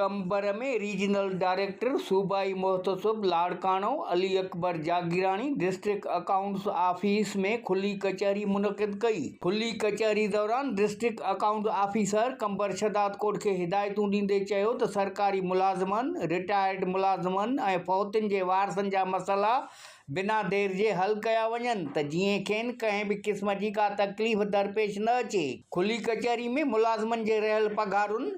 Qambar ۾ regional director صوبائي محتسب Larkana Ali Akbar Jagirani district accounts office ۾ کلي ڪچهري منعقد ڪئي کلي ڪچهري دوران district accounts officer Qambar Shahdadkot کي ھدايتون ڏيندي چيو ته سرڪاري ملازمن رٽائرڊ ملازمن ۽ فوتين جي وارثن جا مسئلا بنا دير جي حل ڪيا وڃن ته جيئن کين ڪنھن به قسم جي ڪا تڪليف درپيش نه اچي کلي ڪچهري ۾ ملازمن جي رھيل پگھارن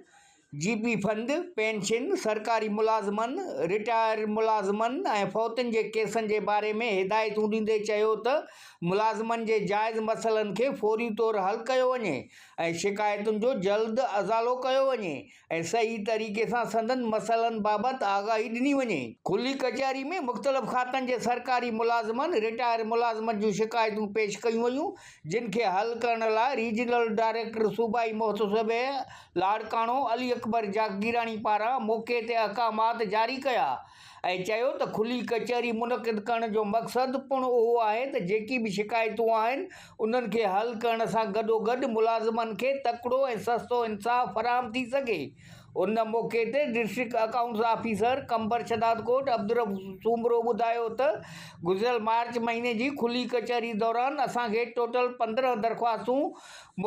جي پي فند، پينشن، سرڪاري ملازمن، رٽائر ملازمن ۽ فوتن جي ڪيسن جي باري ۾ هدايتون ڏيندي چيو ته ملازمن جي جائز مسئلن کي فوري طور حل ڪيو وڃي ۽ شڪايتن جو جلد ازالو ڪيو وڃي ۽ صحيح طريقي سان سندن مسئلن بابت آگاهي ڏني وڃي. کلي ڪچهري ۾ مختلف کاتن جي سرڪاري ملازمن، رٽائر ملازمن جون شڪايتون پيش ڪيون ويون، جن کي حل ڪرڻ لاء ريجنل ڊائريڪٽر صوبائي محتسب لاڙڪاڻو علي اڪبر جاگيراڻي پاران موقعي تي احڪامات جاري ڪيا ۽ چيو ته کلي ڪچهري منعقد ڪرڻ جو مقصد پڻ اهو آهي ته جيڪي به شڪايتون آهن انهن کي حل ڪرڻ سان گڏوگڏ ملازمن کي تڪڙو ۽ سستو انصاف فراهم ٿي سگهي ان موقعي تي district accounts officer Qambar Shahdadkot Abdul Rauf Soomro ٻڌايو ته گذريل مارچ مھيني جي کلي ڪچهري دوران اسان کي ٽوٽل پندرهن درخواستون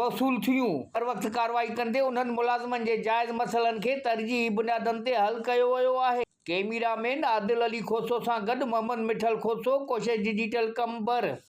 موصول ٿيون، بروقت ڪارروائي ڪندي انهن ملازمن جي جائز مسئلن کي ترجيحي بنيادن تي حل ڪيو ويو آهي. ڪيميرا مين عادل علي کوسو سان گڏ محمد مٺل کوسو، ڪوشش ڊجيٽل قمبر.